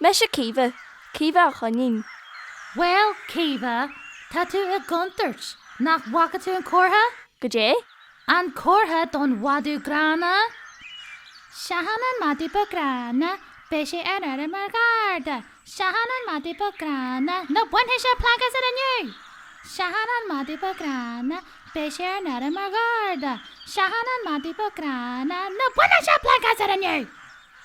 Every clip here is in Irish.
Mise Caoimhe, Caoimhe a' Choinín. Bhuel, Caoimhe, tá tú i gcontúirt, nach bhfaca tú an comhartha? Goidé? An comhartha don mhadadh gránna? Seachain an madadh beag gránna, beidh sé ar aire mar gharda. Seachain an madadh beag gránna, nó bainfidh sé plaic asat inniu! Seachain an madadh beag gránna, beidh sé ar aire mar gharda. Seachain an madadh beag gránna, nó bainfidh sé plaic asat inniu!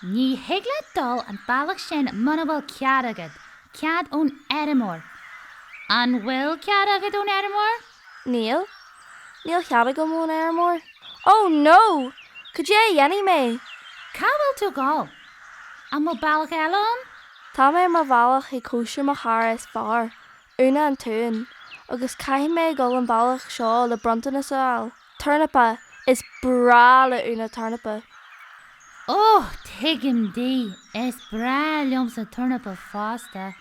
Ní thig leat dul an bealach sin muna bhfuil cead agat, cead ón fheirmeoir. An bhfuil cead agat ón fheirmeoir? Níl. Níl cead agam ón fheirmeoir. Oh no! Cad é a dhéanfaidh mé? Cá bhfuil tú ag dul? An bhfuil bealach eile ann? Tá mé ar mo bhealach ag cóisir mo chara is fearr, Úna an t-uan, agus caithfidh mé a dhul an bealach seo le bronntanas a fháil. Tornapa, Is breá le Úna tornapa. Oh, tuigim di. Is breá liomsa tornapa fosta.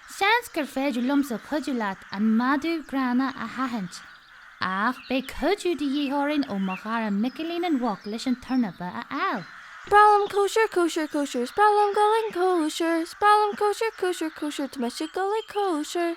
Seans gur féidir liomsa cuidiú leat an madadh gránna a sheachaint. Ach beidh cuidiú de dhíth orainn ó mo chara Micilín an Mhuc leis an tornapa a fháil. Is breá liom cóisir, cóisir, cóisir. Is breá liom dul chun cóisir. Is breá liom cóisir, cóisir, cóisir. Tá mise ag dul ag cóisir.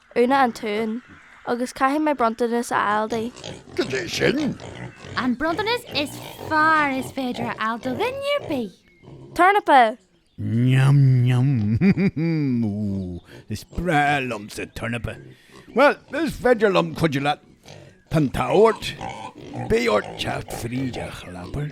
Úna an t-uan. Agus caithfidh mé bronntanas a fháil di. Cad é sin? An bronntanas is fearr is féidir a fháil do dhuine ar bith! Tornapa! Neam neam! Ooh, is breá liomsa tornapa! Bhuel, is féidir liom cuidiú leat. Tá an t-ádh ort. Beidh ort teacht fríd an chlábar.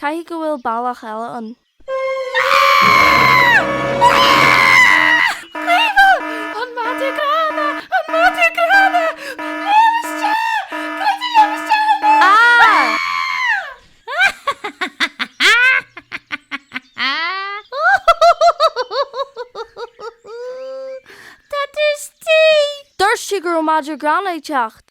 Caithfidh go bhfuil bealach eile ann. Dúirt sí go raibh madra gránna ag teacht.